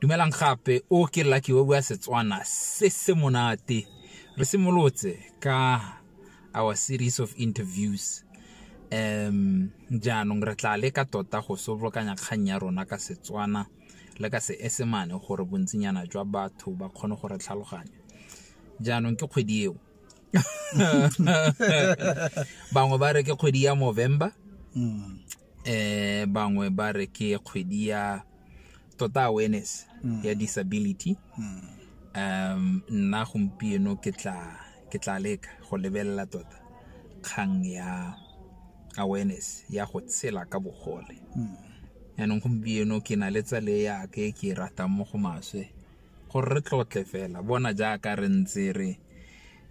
dumelang gape o ke lucky o bua setswana se se monate re simolotse ka our series of interviews um jaanong re tla leka tota go sobolokanya kgang ya rona ka setswana le ka seesemane gore bontsinyana jwa batho ba kgone go re tlhaloganya jaanong ke kgwedi eo bangwe ba re ke kgwedi ya movember mm. eh bangwe ba re ke kgwedi ya tota awareness mm. ya disability mm. um nna gompieno ke tla ke tla leka go lebelela tota kgang ya awareness ya go tshela ka bogole mm. yaanong gompieno ke na le tsale yaka e ke e ratang mo go maswe gore re tlotle fela bona jaaka re ntse re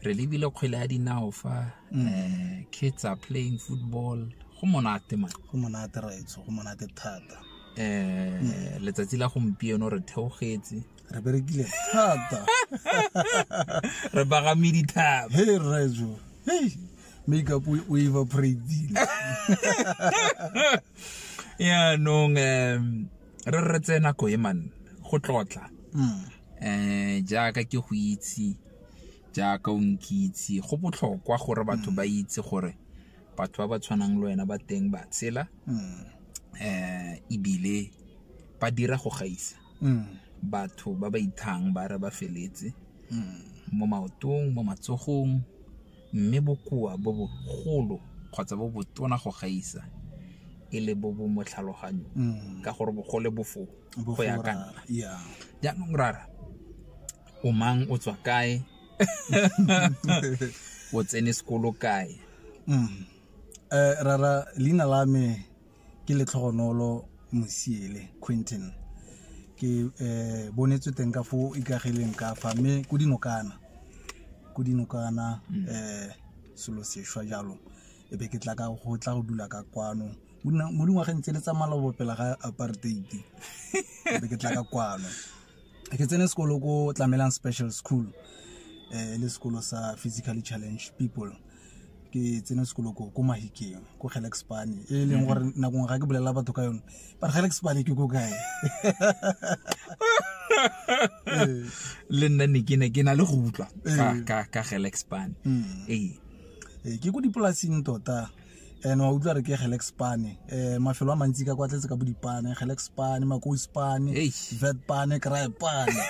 re lebile kgwele ya dinao fa mm. eh, kids are playing football go monate man go monate raitso go monate thata eh mm. letsatsi la gompieno re theogetse re berekile thata re bagame dithaba he rrajo hey makeup o evaporatile yaanong um re re tse nako e man go tlotla um jaaka ke go itse jaaka o nkitse go botlhokwa gore batho ba itse gore batho ba ba tshwanang le wena ba teng ba tshela um ebile ba dira go gaisa batho ba ba ithang ba re ba feletse mo maotong mo matsogong mme bokoa bo bogolo kgotsa bo botona go gaisa e le bo bo mo tlhaloganyong mm. ka gore bogole bo foo go ya ka nna jaanong rara o mang o tswa kae o tsene sekolo kae mm. eh, rara leina la me ke letlhogonolo mosiele quinton ke eh, bonetswe teng ka fo ikagileng ka fa mme ko dinokana ko dinokana um selo sešwa jalo e be ke tla ka go tla go dula ka kwano Mo dina- mo dingwageng tse le tsa malobo pela ga apartheid e be ke tla ka kwano ke tsene sekolo ko tlamelang special school eh, e le sekolo sa physically challenge people ke tsene sekolo ko ko mahikeng ko gelexpane e leng gore mm-hmm. nakong ga ke bolelela batho ka yone but gelexpane ke ko kae le nna ne ke ne ke na le go utlwa ka ka gelexpane ee mm. eh, ke ko dipolasing tota and wa utlwa re ke gelex pane um mafelo a mantsi ka kwa tletse ka bo dipane gelex pane makos pane vet pane cry pane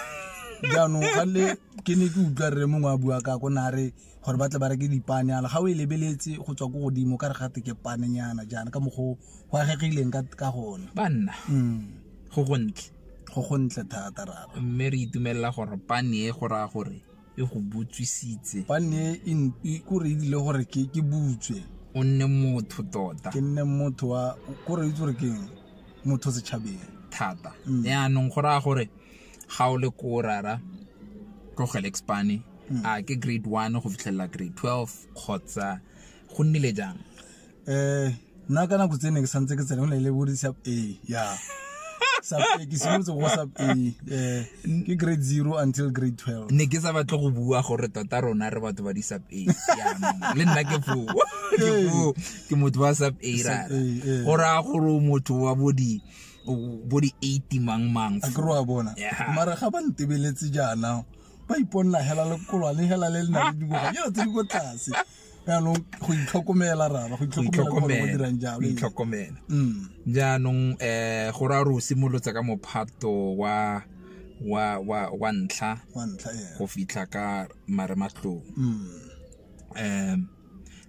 jaanong ga le ke ne ke utlwa rre mongwe a bua ka ko ne a re gore ba tle ba reke dipane ala ga o e lebeletse go tswa ko godimo ka re gate ke panenyana jaana ka mokgwa go agegileng ka gone banna mm. go gontle go gontle thata rara mme re itumelela gore pane e go raya gore e go botswisitse ba nne e n- e- kore e dile gore ke ke butswe o nne motho tota ke nne motho wa kore itse gore ke eng? motho setšhabeng thata Mm. yaanong go raya gore ga o le ko rara tlogele expane Mm. a ke grade one go fitlhelela grade twelve kgotsa go nnile jang um nna ka nako tse ne ke santse ke tsena go ne le bodi sub a ya sub a ke simolotse go sub a um ke grade zero until grade twelve ne ke sa batle go bua gore tota rona re batho ba di sub a le nna ke foo ke foo ke motho wa sub a rara go raya gore motho wa bodi bodi eighty mang mang a kry wa bona mara ga ba ntebeletse jaana ba iponela hela lekolwane hela le le na le dingwaga yo tse di ko tlase jaanong go itlhokomela rara go itlhokomela itlhokomela mm. jaanong um go ra o simolotse ka mophato wa wa wa wa ntlha go fitlha ka marematlong um mm.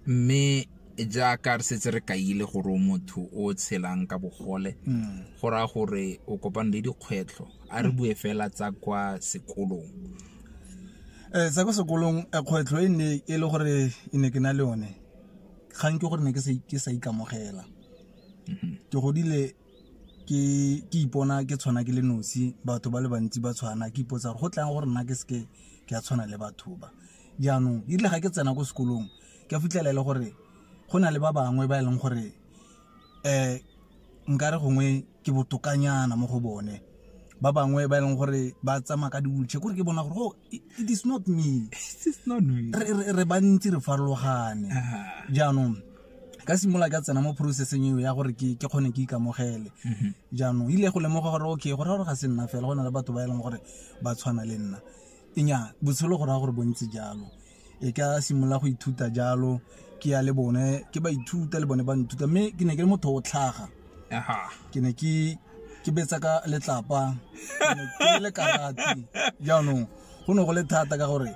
mme jaaka re setse re kaile gore o motho o tshelang ka bogole mm. go raya gore o kopane le dikgwetlho a re bue fela tsa kwa sekolong um sa ko sekolong eh, kgwetlho e nne e le gore e ne ke na le one kgang ke gore ne ke sa ikamogela mm-hmm. ke godile ke ke ipona ke tshwana ke le nosi batho ba le bantsi ba tshwana ke ipotsa gore go tlang gore nna ke seke ke a tshwana le batho ba jaanong erile ga ke tsena ko sekolong ke a fitlhela e le gore go na le ba bangwe ba e leng gore eh nkare gongwe ke botokanyana mo go bone ba bangwe ba e leng gore ba tsamaya ka diwulche kore ke bona gore oh, it is not me re bantsi re farologane jaanong ka simolola ka tsena mo processeng eo ya gore ke kgone ke ikamogele mhm. jaanong ile go lemoga gore okay go raya gore ga se nna fela go na le batho ba e leng gore ba tshwana le nna enya botshelo go raya gore bontse jalo e ka simolola go ithuta jalo ke ya le bone ke ba ithuta le bone ba nthuta mme ke ne ke le motho o tlhaga ke ne ke ke betsa ka letlapa ke le karate jaanong go ne go le thata ka gore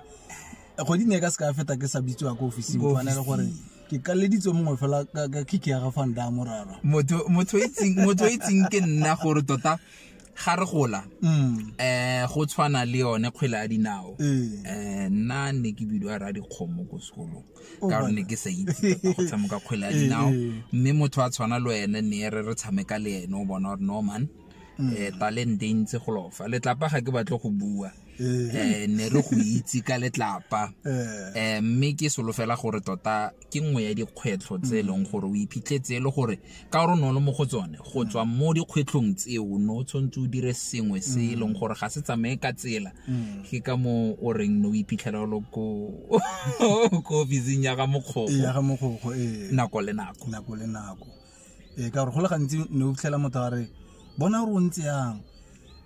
kgwedi ne ka se ka feta ke sa bitsiwa ko ofising fane le gore ke kaleditswe mongwe fela ka kiki ya ga fanda morara motho o itseng ke nna gore tota ga re gola um go tshwana le yone kgwele ya dinao um nna ne ke bidiwa ra dikgomo ko sekolong oh, ka gore ne ke sa itse go tshameka kgwele ya dinao mme motho a tshwana le wene ne re re tshameka le ene o bona gore norman um talente e ntse go lofa letlapa ga ke batle go bua um ne re go itse ka letlapa um mme ke solofela gore tota ke nngwe ya dikgwetlho tse e leng mm. gore o iphitlhetse e le gore ka gore no le mo go tsone go tswa mm. mo dikgwetlhong tseo no o tshwanetse o dire sengwe se e leng mm. gore ga se tsamaye ka tsela ke ka mo o reng no o iphitlhela lo ko ofising ya ga mokgogo ee. nako le nako nako le nako ee ka gore go le gantsi ne o fitlhela motho a re bona gore o ntse yang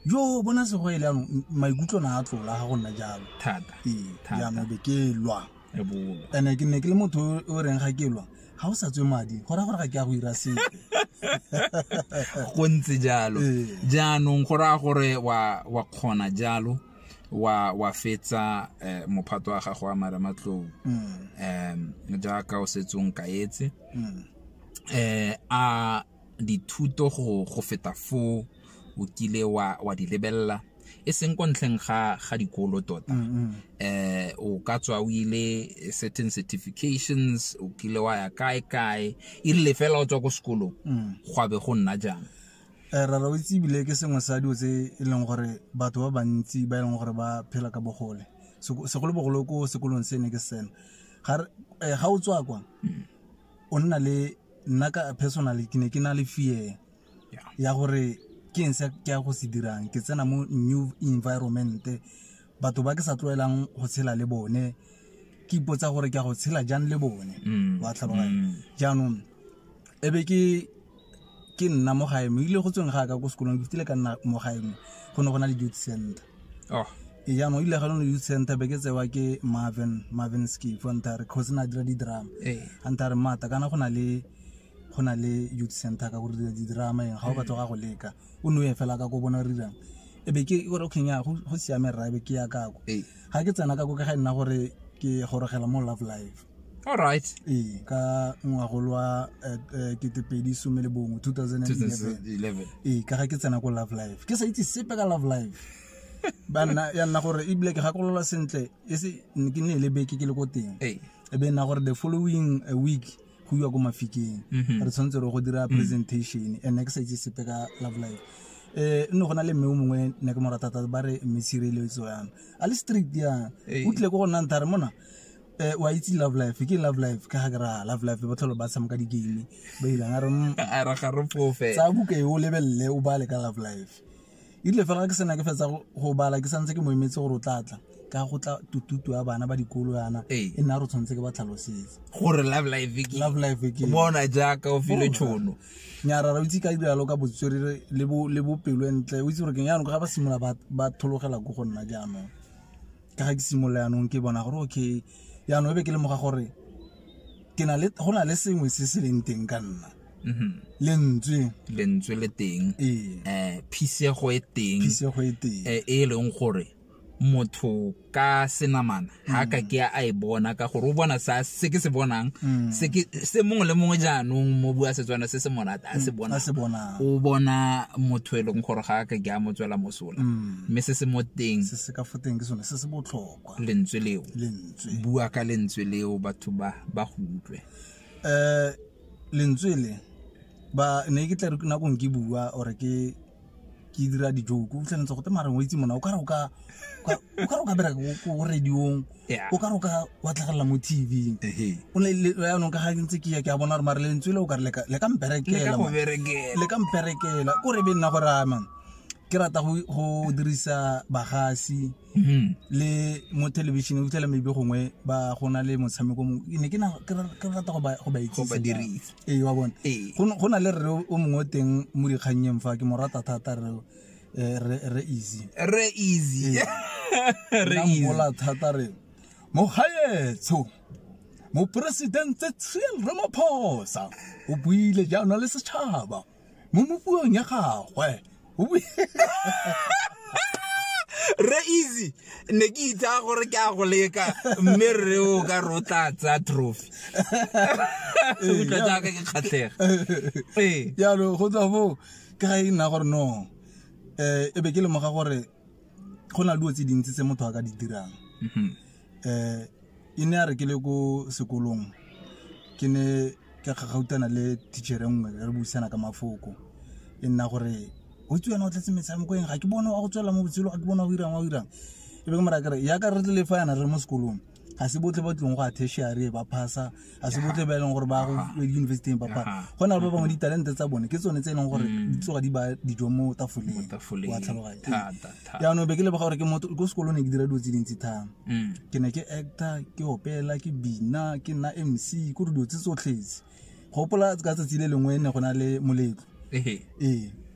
jo bona sego e le yanong maikutlo na a tlola ga go nna jalo thata ee Thata. jaanong be ke lwa e bolo and-e ke ne ke le motho o- o reng ga ke lwa ga o sa tswe madi go raya gore ga ke ya go ira sepe go ntse jalo Ee. jaanong go raya gore wa wa kgona jalo wa wa fetsa eh, mophato wa gago wa marematlou mm. um jaaka o setsong kaetse mm. eh a dithuto go go feta foo o kile wa wa di lebella e seng ko ntlheng ga ga dikolo tota mm, mm. eh o ka tswa o ile certain certifications o kile wa ya kae kae e rile fela o tswa ko sekolong mm. gwa be go nna jang Eh, rara o itse ebile ke sengwe sa dilo tse e leng gore batho ba bantsi ba e leng gore ba phela ka bogole segolobogolo ko sekolong se ne ke sena ga eh, o tswa kwa o nna le nna ka personally ke ne ke na le fear ya gore ke eng se ke ya go se dirang ke tsena mo new environment batho ba ke sa tlwaelang go tshela le bone ke ipotsa gore ke a go tshela jang le bone mm. wa tlhaloganya mm. jaanong e be ke ke nna mo gae mo ile go tsweng ga ka ko sekolong ke fitile ka nna mo gae mo go ne go na le youth center oh. e jaanong ile ga lone youth center be ke tsewa ke marvin marvin skifontare cause na dira di-drama hey. antare mata kana go na le go na le youth center ka gore dira di-drama eng ga o batla ga go leka o ne o ye fela ka ko bona rirang e be ke gore okay nya go go siame rra e be ke ya kako Ee. ga ke tsena kako ke ga e nna gore ke gorogela mo love life all right ee ka ngwagolo wa eh, eh, ketepedi some le bongwe 2011 2011 ee ka ga ke tsena ko love life ke sa itse sepe ka love life ba nna ya nna gore ebile ke gakolola sentle e se ke ne e le beke ke le ko teng ee e be e nna gore the following eh, week go iwa ko mafikeng mhm. re tshwanetse re go dira mhm. presentation and ne ke sa itse sepe ka love life eh nne go na le mme o mongwe ne ke mo rata thata ba re mme tshireletso yana a le strict yana o tlile ko go nna ntha re mona eh wa itse love life ke love life ka ga ra love life ba tlholo ba tshameka di game ba ile a re mm, a ra ga re fofe tsa buka e o lebelele o bale ka love life ile fela ke sena ke fetsa go bala ke santse ke mo emetse gore o tlatla ka go tla tututu ya bana ba dikolo yana e nna re tshwanetse ke ba tlhalosetse gore love life ke love life ke bona jaaka o file oh, tshono nyara ra itse ka diralo ka botswerere le bo le bopelo entle o itse gore ke yana go ga ba simola ba ba thologela go go nna jaanong ka ga ke simola yanong ke bona gore okay yanong e be ke le moga gore ke na le go na le sengwe se se leng teng ka nna Mhm. lentswe lentswe le teng ee um phisego e teng phisego e teng um e e leng gore motho ka senamana ga ka ke a e bona ka gore o bona sa se ke se bonang Mm. se ke- se mongwe le mongwe jaanong mo bua setswana se se monate a se bona a se bonang o bona motho e leng gore ga a ka ke a mo tswela mosola Mm. mme se se mo teng se se ka foteng ke sone se se botlhokwa lentswe leo lentswe bua ka lentswe leo batho ba ba go utlwe um lentswe le ba ne ke tla re nako ke bua or ke ke dira di joke o tlhanetse go tsamaya rengwe itse mona o ka re o ka o ka re o ka bera go radiong o ka re o ka wa tlhagelela mo TV o le le ya nong ka ga ntse ke ya ke a bona re mare le ntswe le o ka re le ka le ka mperekela le ka mperekela ko re be nna go rama ke rata go dirisa bagasi Hmm. le mo television o fitlhela maybe gongwe ba go na le motshameko mongwe ne ke rata go ba itsise ee wa bone go na le rre o mongwe o teng mo dikgannyeng fa ke mo rata thata re eh, re easy re easy re easy mola thata re mo gaetsho moporesidente Cyril Ramaphosa o buile jaana le setšhaba mo mopuong ya gagwe re easy ne ke itsa gore ke a go leka mme re o ka re o tla tsaya trophy utlwa jaaka ke kgatlhega ee jalo go tswa foo ke ga e nna gore no um e be ke lemoga gore go na le dilo tse dintsi tse motho a ka di dirang um e ne a re ke le ko sekolong ke ne ka gagautana le teachere nngwe re buisana ka mafoko e nna gore o tse wena o tletse metshameko eng ga ke bone wa go tswelela mo botshelo ga ke bone wa go irang wa go irang e be ke mora kere yaka re tle le fa yana re mo sekolong ga se botlhe ba tlong go a tertiary ba phasa a se botle ba e leng gore ba go universiteng papa go na le ba bangwe ditalente tsa bone ke tsone tse e leng gore mm. di tsoga di ba dijo mo tafoleng wa tlhaloganya jaanong be ke lebega gore ke motho ko sekolong ne ke dira dilo tse dintsi thang mm. ke ne ke actor ke opela ke bina ke nna mc ko re dilo tse tsotlhetse gopola ka tsatsi le lengwe ne go na le moletlo ee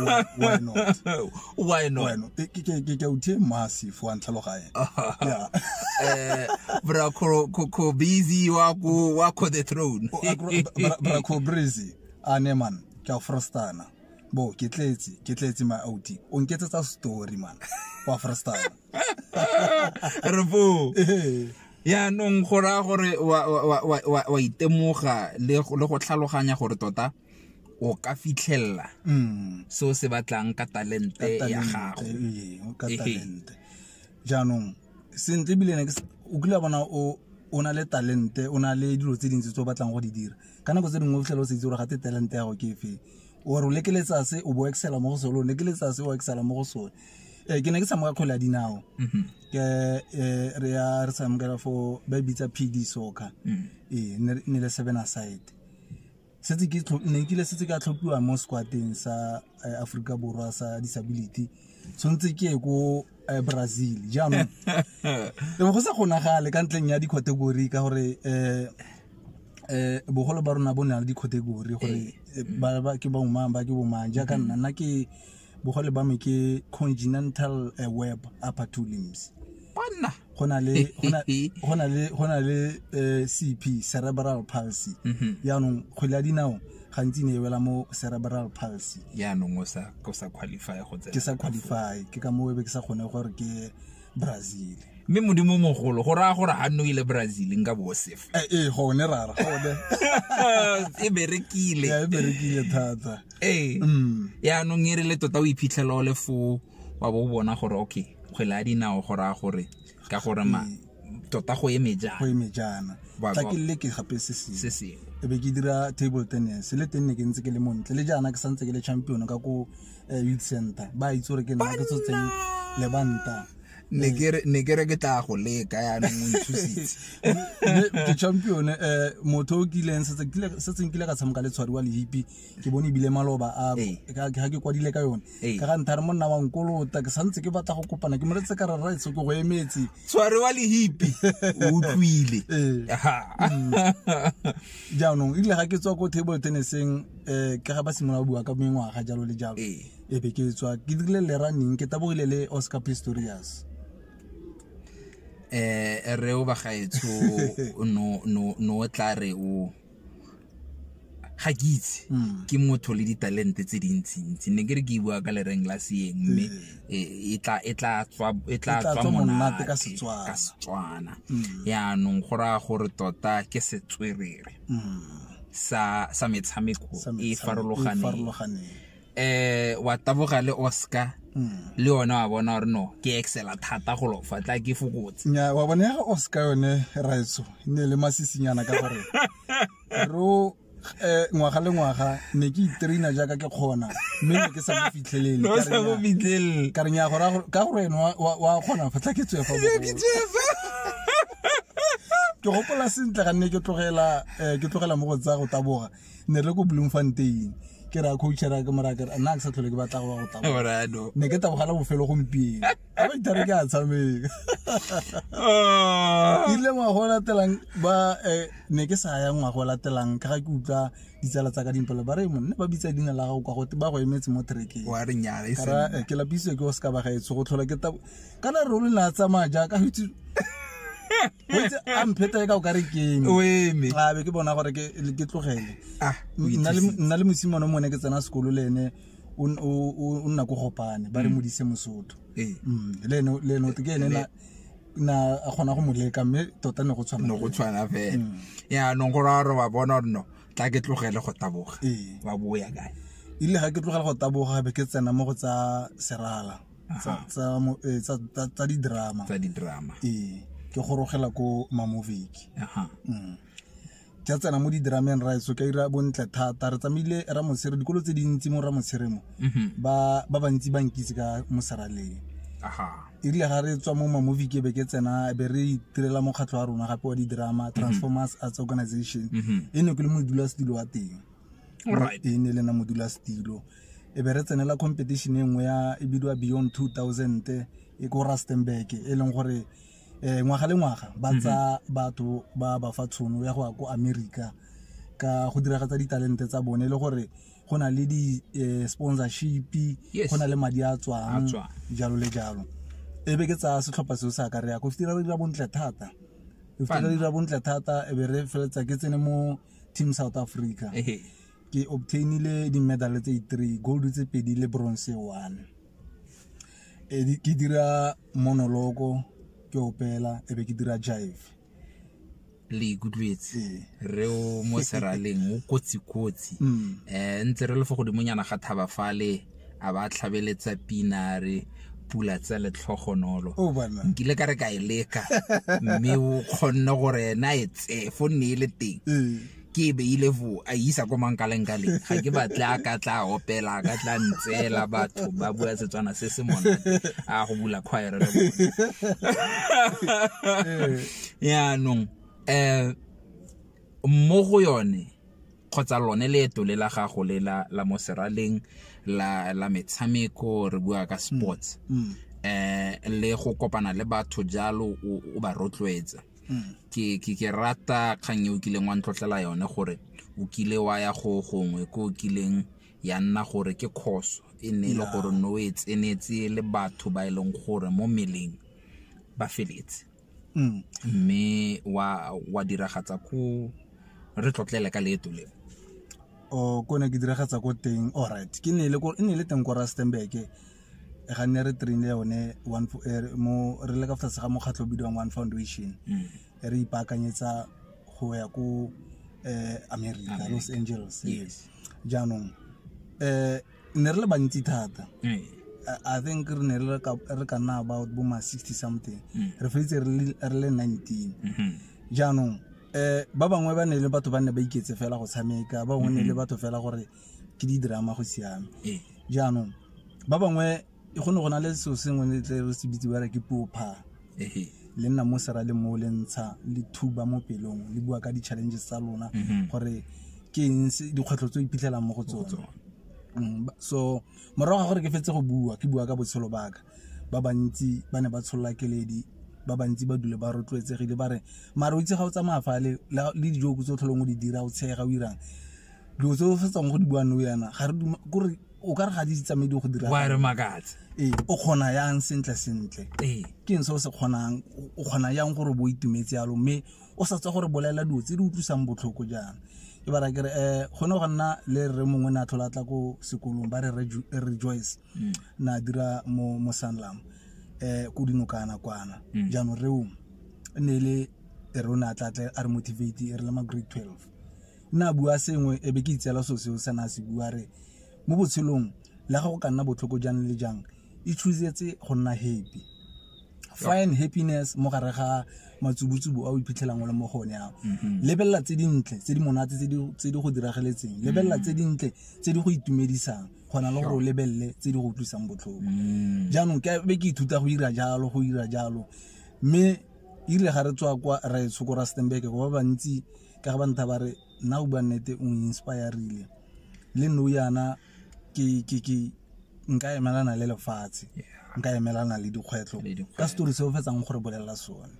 Why- why not? why not Why not? Ke- ke- ke- ke- ke o tie massive wa ntlhaloganye. Yeah. Eh, bra ko ko- ko busy wa ko wa ko the throne O agro- bra- bra ko breezy a ne man ke a frostana bo ke tletse ke tletse my out o nketsetsa story man wa frostana re foo yaanong go raya gore wa- wa- wa- wa- wa- wa itemoga le go le go tlhaloganya gore tota o ka fitlhelela mm. se o se batlang ka talente ya gago jaanong sentle ebile o kile bona o o na le talente o na le dilo tse dintsi tse o batlang go di dira ka nako tse dingwe o fitlhela o se itse gore ga te talente ya go ke efeng ore o lekeletsa se o bo excela mo go sone o lekeletsa se o excela mo go sone um ke ne ke tshameka kgwele ya dinao mhm. ke eh, re ya re tshamekela fo ba e bitsa p d soccer mm. ee ne le seven aside ne nkile setse ka tlhophiwa mo squateng sa eh, aforika borwa sa disability tshwanetse ke ye ko eh, brazil jaanong e go sa kgonagale ka ntleng ya di-category ka gore um um bogolo ba rona bo ne le di-category gore ke bomang ba ke bomang jaaka nna nna ke bogole ba me ke continental eh, web upper two limbs banna go na le go na- go na le go na le eh, cp cerebral palsy Mhm. yaanong kgwele ya dinao gantsi ne e wela mo cerebral palsy yaanong o sa o sa qualify go tsena ke sa qualify ke ka moo e be ke sa kgone gore ke brazil mme modimo o mogolo go raya gore ga nne o ile brazil nka bo sefa Eh, ee gone rara gone e berekile Ya, e berekile thata ee Mm. yaanong e re le tota o iphitlhela o le foo wa bo o bona gore okay kgwele ya dinao go raya gore ka gore ma tota go eme go jang eme jaana Ba- tla ba- ke leke gape se se sengwe sengwe e be ke dira table tennis le teng ne ke ntse ke le montle le jaana ke santse ke le champion ka ko eh, youth center ba itse gore ke nna ke tshotseng lebanta ne ke re ke tla go leka yaanong o nthusitse ke champion um eh, motho o kileng setseng kile ka tshameka le tshwariwa le hipi ke bone ebile maloba a ga ke kwadile ka yone ka ga nthare monna wa nkolota ke santse ke batla go kopana ke moletse ka rara etso ke go emetse tshwariwa le hipi o utlwile ee. mm. jaanong ebile ga ke tswa ko table tenniseng eh, ka ga ba simolola bua ka mengwaga jalo le jalo Ee. e be ke tswa ke dirile le running ke tabogile le oscar pistorius eh re o bagaetsho no no no o tla re o ga ke itse Mm. ke motho le ditalente tse dintsintsi ne ke re ke bua ka lereng la seeng mme eh, e tla e tla tswa e tla tla tswa tswa monate monate ka Setswana. ka Setswana Mm. yaanong go raya gore tota ke setswerere sa sa metshameko e farologaneng eh wa taboga le Oscar hmm. le yone wa bona gore no ke excela thata go lo fa tla ke fokotse nya wa bona ya Oscar yone raitso e ne le masisinyana ka gore ro eh ngwaga le ngwaga ne ke itraina jaaka ke kgona mme ne ke sa mo fitlhelele no sa mo fitlhelele ka re nya gore ka gore wa kgona fa tla ke tswefa ke tswefa ke gopola sentle ga nne ke tlogela eh, ke tlogela mo go tsa go taboga ne re ko bloemfontein ke ra coachera ke mora ke nna ke sa tlhole ke batla go go taboga Morano. ne ke tabogala bofelo gompieno a ba itare ke a tshameka Oh. ile ngwago o latelang ba eh, ne ke sa ya ngwago o latelang ka ga ke utlwa ditsala tsa ka dimpelo ba re monne ba bitsa dina la gago kwa gote ba go emetse mo trekeng Wa re nyala e seng. kara eh, ke lapisitswe ke go seka ba gaetsho go tlhola ke tabo kana re ruri na tsamaya jaaka go itse go itse a mpheta e ka o ka re keng o eme a be ke bona gore ke ke tlogele ah o nna le ithusitse. nna le mosimane mo ne ke tsena sekolo le ene o n- o- o o nna ko gopane ba re modise mosotho Ee. Mm, le ene le ene o te ke ene na na a kgona go mo leka mme tota ne go tshwana no go tshwana fela yaanong gore a re wa bona gore no tla ke tlogele go taboga Ee. wa boya kae ile ga ke tlogela go taboga be ke tsena mo go tsa serala tsa Aha. tsa mo- eh, tsa- tsa- tsa di-drama tsa di-drama ee ke gorogela ko mamoviki Aha. Mm. ke a tsena mo di-drameng raetso ka ira bontle thata re tsamaile ramotshire dikolo tse dintsi mo ramotshire mo Mhm. ba ba bantsi ba nkitse ka mosaraleng Aha. erile ga re tswa mo mamovie ke be ke tsena be re itirela mokgatlho wa rona gape wa di-drama transformers arts organization Mhm. e ne ke le modulasetulo wa teng e ne e le na modulasetilo e be re tsenela competition e nngwe ya e bidiwa beyond 2000 e ko rustenburg e leng gore um ngwaga le ngwaga ba mhm. tsa batho ba ba fa tshono ya go ya ko america ka go diragatsa ditalente tsa bone e le gore go na le di-sponsorship eh, go na le madi a tswang jalo le jalo e be ke tsaya setlhopha seo sa ka re ya ko fitira re dira bontle thata re fitira re dira bontle thata e be re feleletsa ke tsene mo team south africa ke obtainile di-medal tse three gold tse pedi le bronze one e ke dira monoloko ke opela e be ke dira jive le ikutlwetse ee. re o mo seraleng o kotsi-kotsi um mm. eh, ntse re le fo godimonyana ga thaba fale a ba tlhabeletsa pina re pula tsa letlhogonolo oh, nkile ka re ka e leka mme o kgonne gore ena e tse fo nne e le teng ee. ke e beile fo a isa ko mankaleng ka leng ga ke batle a ka tla opela a ka tla ntseela batho ba bua setswana se se monate a go bula kgwaere le bone ee. yaanong um mo go yone kgotsa lone leeto le la gago le la, la mo seraleng la, la metshameko re bua ka sports mm. eh le go kopana le batho jalo o, o ba rotloetsa mm. ke, ke, ke rata kgang e o kileng wa ntlotlela yone gore o kile wa ya go gongwe ko o kileng ya nna gore ke khoso e ne e le gore no e tsenetse le batho ba e leng gore mo meleng ba feletse Mm. mme wa wa diragatsa ko re tlotlele ka leeto le o ko ne ke diragatsa ko teng all right ke ne le ko ne le teng ko Rustenburg ga nne re train yone one fo- eh, re- mo re le ka fa tlase ga mokgatlho o bidiwang one foundation Mm. e re ipaakanyetsa go ya ko eh, america los angeles yes jaanong eh ne re le bantsi thata eh. i think re ne re ka nna about bo ma 60 something mm. re feditse re le 19 mm-hmm. jaanong um ba bangwe ba ne le batho ba ne ba iketse fela go tshameka ba bangwe ne le mm-hmm. batho fela gore ke di-drama go siame eh. jaanong ba bangwe e go ne go na le seo sengwe le tle re se bitse bare ke popha le nna mo sera le mo le ntsha le thuba mo pelong le bua ka di-challenges tsa lona mhm. gore ke eng dikgwetlho tse o iphitlhelang mo go tsone mm, so morago ga gore ke fetse go bua ke bua ka botshelo baka ba bantsi ba ne ba tsholola keledi ba bantsi ba dule ba rotloetsegile ba re mare o itse ga o tsamaya fa le le dijo tse o tlholong o di dira o tshega o irang dilo tse o fetsang go di bua no yana ga re kore o ka re ga di tsamaye di go dira wa re makatse ee o kgona yang sentle sentle ee ke ntse o se kgonang o kgona yang gore bo itumetse yalo mme o sa tswa gore bolela dilo tse di utlwisang botlhoko jaana ke bara kere um go ne go nna le re mongwe ne a tlhola tla ko sekolong ba re rejoice mm. na dira mo mo sanlam um ko dinokana kwana mm. jaanong reo ne le re o ne a tlatle a re motivate e re le ma grade twelve nna a bua sengwe e be ke itseela so seo sena a se bua re mo botshelong le ga go ka nna botlhoko jang le jang e choosetse go nna happy find happiness mo gare ga matsubutsubu a o iphitlhelang o le mo go one ao mm-hmm. lebelela tse dintle tse di monate tse di go dirageletseng mm-hmm. lebelela tse dintle tse di go itumedisang kgona le gore o lebelele tse di go utlwisang botlhoko mm. jaanong ke be ke ithuta go ira jalo go ira jalo mme irile ga re tswa kwa ra e tshoko ra stenbeke go ba bantsi ka ba ntha ba re nna o bua nnete o inspire-rile le nou yana ke ke ke nka emelana le lefatshe nka emelana le dikgwetlho ka story se o fetsang gore bolelela sone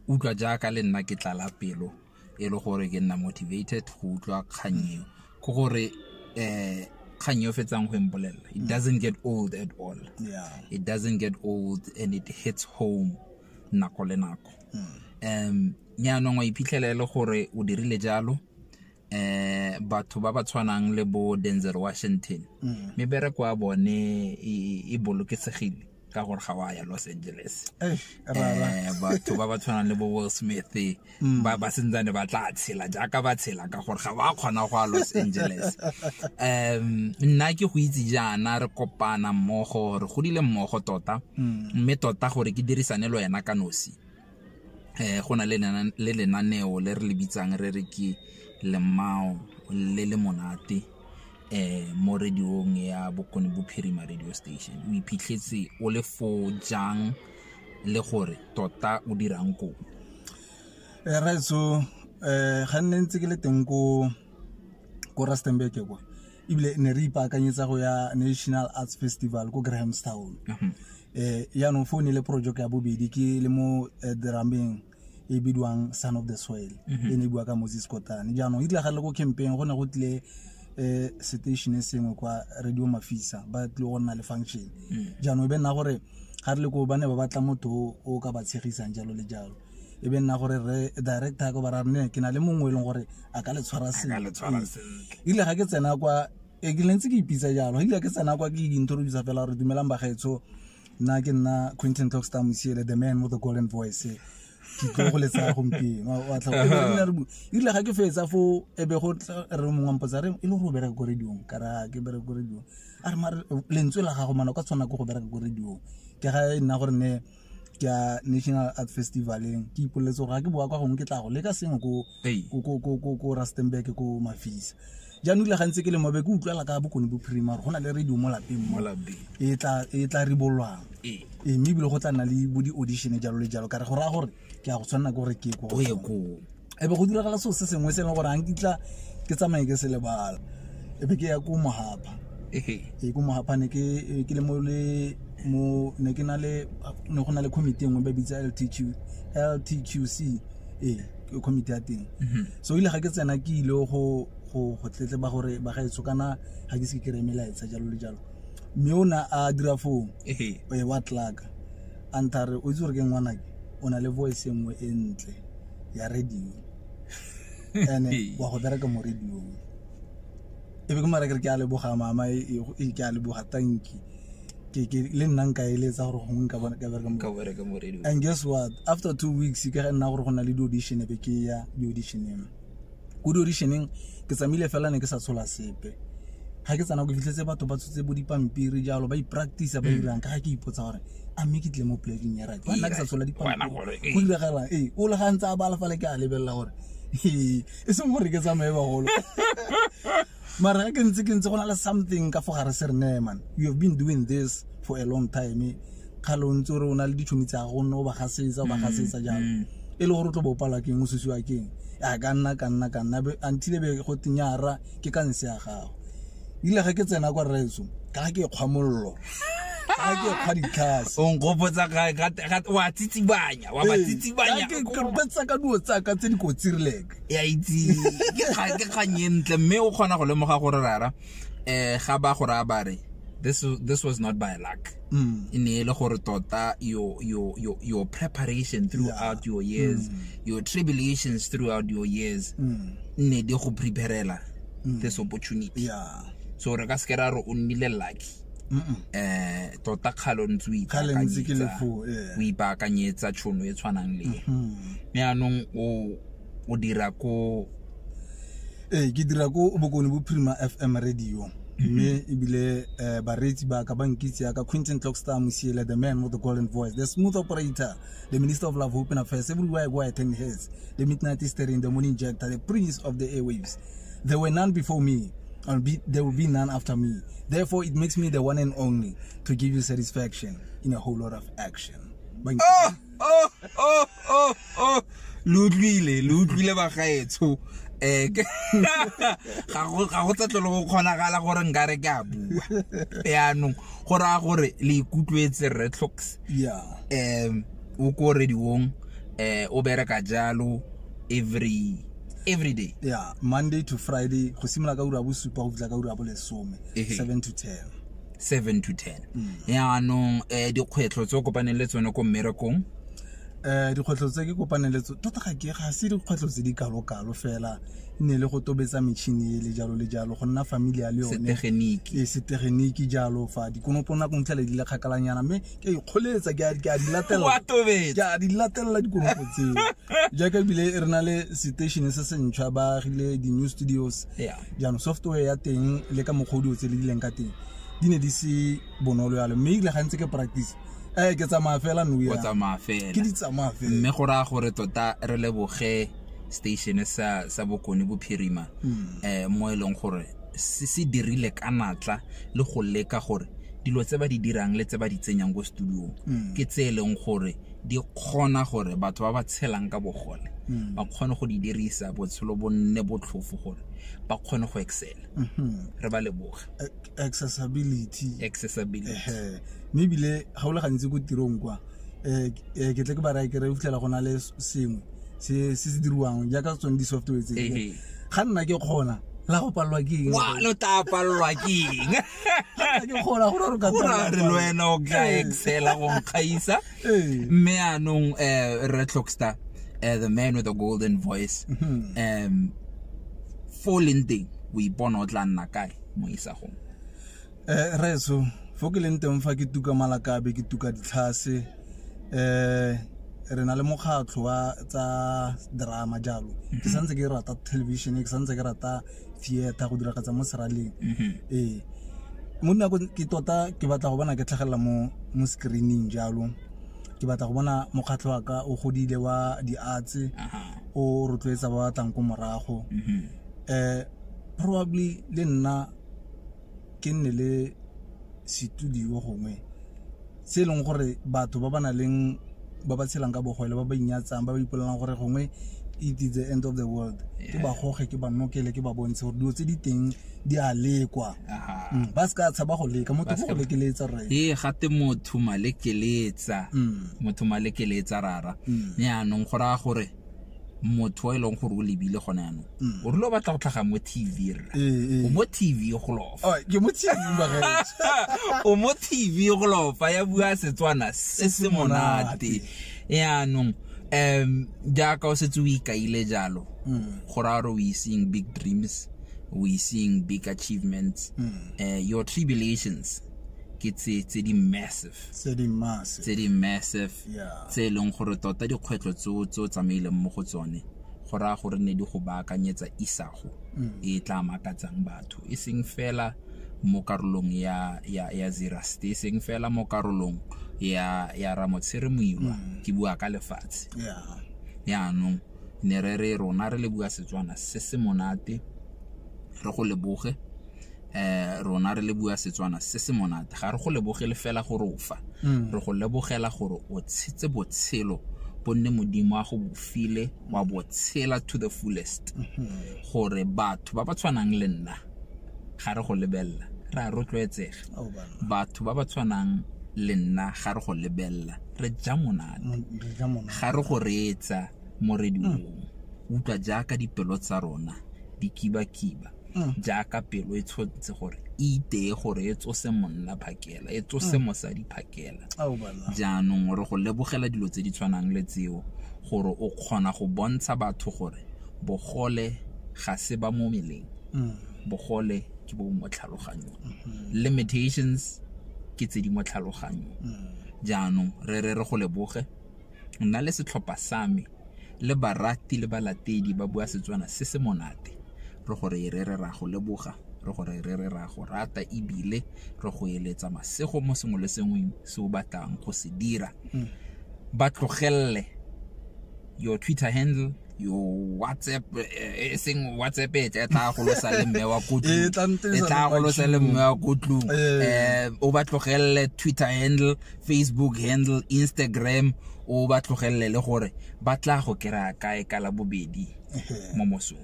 utlwa jaaka le nna ke tlala pelo e le gore ke nna motivated go utlwa kgang eo ke gore eh kgang yo fetsang go empolelela it mm. doesn't get old at all yeah. it doesn't get old and it hits home nako le nako um yaanong wa iphitlhela e le gore o dirile jalo eh batho ba ba tshwanang le bo Denzel Washington mm. mebereko ya bone e, e bolokesegile ka gore ga wa ya Los Angeles eh batho ba ba tshwanang le bo Will Smith mm. ba ba sentsane ba tla tshela jaaka ba tshela ka gore ga ba kgona go a los angeles um nna ke go itse jaana re kopana mmogo re godile mmogo tota mm. mme tota gore ke dirisane le wena ka nosi um go na le lenaneo le re le bitsang re re ke lemao le le monate eh mo radiong ya bokone bophirima radio station o iphitlhetse o le fo jang le gore tota o dirang koo eh, raetso um eh, ga nne ntse ke le teng ko ko rustenburg kwa ebile ne re ipaakanyetsa go ya national arts festival ko grahamstown um mhm. eh, yaanong fo ne le project ya bobedi ke le mo eh, drameng e bidiwang son of the soil mhm. e ne e bua ka moses kotane jaanong e tlagale ko campaign go ne go tlile um station e sengwe kwa radio mafisa ba tlile go nna le function mm. jaanong e be nna gore ga re le ko ba ne ba batla motho o ka ba tshegisang jalo le jalo e be nna gore re director ko ba ra rene ke na le mongwe e leng gore a ka le tshwara sentle ile ga ke tsena kwa e ke lentse ke ipitsa jalo ile ke tsena kwa ke introduce fela gore dumelang bagaetsho nna ke nna quinton toxta mosiele the man with the golden voice ke tlo go letsa gompieno wa tla go ile ga ke fetsa fo e be go re mongwe wa mpotsa re e le go bereka ko radiong ka ra ke bereka ko radiong a re mare lentswe la gago mana ka tshwana ke go bereka ko radiong ke ga e nna gore ne ke ya national art festivaleng ke ipoleletse gore ga ke boa kwa gongwe ke tla go leka sengwe ko ko rustenburg ko mafisa jaanong le gantse ke le mabe ke utlwala ka bokone bo primary go na le radio mo lapeng mo e, e tla ribolwang ee. ee, mme ebile go tla nna le bo di-audition jalo le jalo kare go raya gore ke ya go tshwanela ke gore ke ko ebe go diragala seo se sengwe se e leng gore ga nkitla ke tsamaye ke se lebala ebe ke ya ko mohapa ee ko mohapa ne ke le mo le mo ne ke na le ne go na le committee e nngwe ba bitsa ltq ltqc ee committee ya teng mhm. so ile ga ke tsena ke ile go go go tletleba gore ba gaetso kana ga ke se ke kry-e melaetsa jalo le jalo mme o ne a dira foo e wa tlaka a nthare o itse gore ke ngwanake o na le voice e nngwe e ntle ya radio ene wa go bereka mo radiong e be ke mara kere ke a leboga mama e, e, e ke a leboga tanki ke ke le nna nka eletsa gore gongwe nka bona ka bereka nka bereka mo radio and guess what after two weeks ke ga nna gore go na le di-audition be ke ya di-auditioneng ko di-auditioneng ke tsamaile fela ne ke sa tshola sepe ga ke tsana ko fitlhetse batho ba tshotse bo dipampiri jalo ba ipractice ba hmm. dirang ka ga ke ipotsa gore a mme ke tle mo plaking ya rake nna ke sa tshola dipampiri go diragalang ee o le ga ntse a ba alefale ke a lebelela gore e seng gore ke tsamaye bagolo mara ke ntse ke ntse go na le something ka fo gare se re ne man you have been doing this for a long time kgale o ntse o re o na le ditšhomi tsa go nne o ba gasetsa o ba mm, gasetsa jalo mm. e le gore o tlo bo palwa keng o susiwa keng a ka nna ka nna ka nna until be go tenyara ke ka nse ya gago ile ga ke tsena kwa retso ka ga ke kgwa mollo a ke kga ditlhase o nkgopotsa ga- ga- ga- wa tsitsibanya wa ba tsitsibanya betsa ka duo tsaka tse di kotsirileke ya itse ke kga- ke kgang e ntle mme o kgona go lemoga gore rara um ga ba go raya bare this, this was not by luck Mm. e ne e le gore tota your, your, your, your preparation throughout your years your tribulations throughout your years Mm. ne di go preparela this opportunity ya so re ka se ke ra re o nnile lucky eh tota kgalo ntse o ipaakanyetsa o ipaakanyetsa tšhono e tshwanang le mme anong o o dira ko ee ke dira ko bokone bophirima f m radio mme ebile um bareetsi ba ka ba nkitse yaka quinton clockstar mosiele the man with the golden voice the smooth operator the minister of love hope and affairs everywhere where i turn heads the midnight history in the morning jector the prince of the airwaves There were none before me, and be, there will be none after me. Therefore, it makes me the one and only to give you satisfaction in a whole lot of action. Bang. Oh, oh, oh, oh, oh. lo utlwile lo utlwile bagaetsho um ga go tsetlo le go kgonagala gore nka re ke a bua yaanong go raya gore le ikutlwetse retlocks um o ko rediong um o bereka jalo every every day yeah monday to friday go simolola ka ura bosupa go fitlha ka ura bolesome seven to ten seven to ten mm. yaanong um dikgwetlho tse o kopaneng le tsone ko mmerekong um dikgwetlho tse ke kopaneng le tsone tota ga ke ga se dikgwetlho tse di kalokalo fela ne le go tobetsa metšhini e le jalo le jalo go nna familia le yone setegeniki e, jalo fa dikonopo nako ntlhele di le kgakalanyana mme ke ikgoletsa ke a- ke a di latelela Wa tobetsa. ke a di latelela dikonopo tseo jaaka ebile e re na le station se se ntšhwa ba agile di-new studios Yeah. jaanong software ya teng le ka mokgwa o di otse le dileng ka teng di ne di se bonolo yalo mme ebile gantse ke practice eh ke tsamaya fela no o ya tsamaya ke fela di tsamaya fela mme go raya gore tota re leboge station sa sa bokone bophirima um mo e leng gore se se dirile ka natla le go leka gore dilo tse ba di dirang le tse ba di tsenyang ko studiong mm. ke tse e leng gore di kgona gore batho ba ba tshelang ka bogole mm. ba kgone go di dirisa botshelo bo nne botlhofo gore ba kgone go excela mm-hmm. re ba leboga accessibility accessibility mme ebile ga o le gantsi ko tirong kwa um ke tle ke ba raya ke re o fitlhela go na le sengwe se se se diriwang jaaka tsone di-software tse Ehe. ga nna ke kgona la go palelwa ke eng wa lo tla palelwa ke eng Ga nna ke kgona gore re ka go ra re le wena o ka Ee. excela go nkgaisa Ee. mme anong um re tlhockstar um the man with the golden voice Mhm. um fo o leng teng o ipona o tla nna kae mo isagong eh, reso fo ke leng teng fa ke tuka malakabe ke tuka ditlhase um re na le mokgatlho wa tsa drama jalo ke mhm. santse ke rata television ke santse ke rata theater go diragatsa mo seraleng mhm. ee mo nako ke tota ke batla go bona ke tlhagelela mo mo screening jalo ke batla go bona mokgatlho wa ka o godile wa di-arts o rotloetsa ba batlang ko morago um probably le nna ke nne le setudio gongwe se e leng gore batho ba ba na leng ba ba tshelang ka bogole ba ba inyatsang ba ba ipolelang gore gongwe it is the end of the world ke ba goge ke ba nokele ke ba bontshe gore dilo tse di teng di a lekwa mm, ba se ka tshaba go leka motho go lekeletsa rre ee gate motho malekeletsa mm. motho malekeletsa rara mm. yaanong go raya gore motho e leng gore o lebile gone yanong mm. o rile o batla go tlhaga mo tv rra eh, eh. o mo tv go lofa oh, o mo tv go lofa ya bua setswana se se monate yaanong um jaaka o setse o ikaile jalo mm. go raya gore o iseng big dreams o iseng big achievements mm. eh, your tribulations ke tse di massive tse di massive tse e leng gore tota dikgwetlho tse o tse o tsamaileng mo go tsone go raya gore ne di go baakanyetsa isago mm. e tla makatsang batho e seng fela mo karolong ya ya ya Zerust e seng fela mo karolong ya ya Ramotshire Moiwa mm. ke bua ka lefatshe yeah yaanong ne re re rona re le bua Setswana se se monate re go leboge eh rona re le bua Setswana se se monate ga re go lebogele fela gore o fa mm. re go lebogela gore o tshetse botshelo bonne modimo a go bofile wa botshela to the fullest mm-hmm. gore batho ba ba tshwanang le nna ga re go lebelela re a rotloetsega oh, batho ba ba tshwanang le nna ga re go lebelela re ja monate ga re go reetsa moredi mm. o utlwa jaaka dipelo tsa rona di kibakiba jaaka pelo e tshotse gore e iteye gore e tsose monna phakela e tsose mosadi phakela jaanong re go lebogela dilo tse di tshwanang le tseo gore o kgona go bontsha batho gore bogole ga se ba mo meleng bogole ke bo mo tlhaloganyong limitations ke tse di mo tlhaloganyong jaanong re re re go leboge nna le setlhopha sa me le barati le balatedi ba bua Setswana se se monate. Re go re re re re a go leboga, re go re re re re a go rata e bile re go eletsa masego mo sengwe le sengwe se o batlang go se dira. Ba tlogelele your Twitter handle. yo whatsapp e eh, eh, seng whatsapp e tla tla go losa le mme wa kotlu e tla go losa le mme wa kotlu eh. eh o ba tlogelle twitter handle facebook handle instagram o ba tlogelle le gore ba tla go kera kae ka la bobedi mo mosong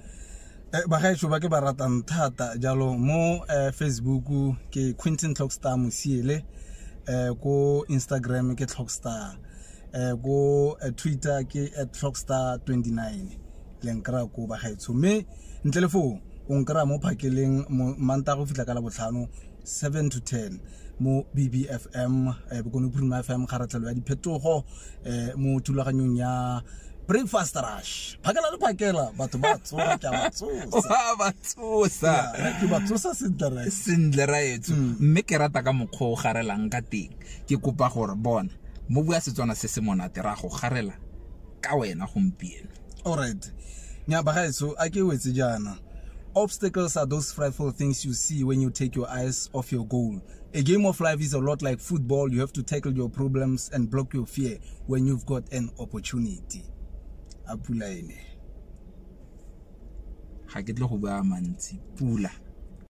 bagaetso ba ke ba ratang thata jalo mo facebook ke quinton clockstar mosiele ko instagram ke clockstar eh go eh, twitter ke at clockstar 29 le nkra ko bagaetsho mme ntle le foo o nkra mo phakeleng manta go fitlha ka la botlhano 7 to 10 mo bbfm eh, bokone bophirima fm kgaratlhelo ya diphetogo eh, mo thulaganyong ya breakfast rush phakela le phakela batho ba tsoa ke ba tsosa ba tsosa ke ba tsosa sentle right sentle right mme ke rata ka mokgwa o garelang ka teng ke kopa gore bona mo bua setswana se se monate ra go garela ka wena gompieno alright nyabagaetso a ke wetse jaana Obstacles are those frightful things you see when you take your eyes off your goal. A game of life is a lot like football. You have to tackle your problems and block your fear when you've got an opportunity. A pula ene. Ga ke tle go bua mantsi. Pula.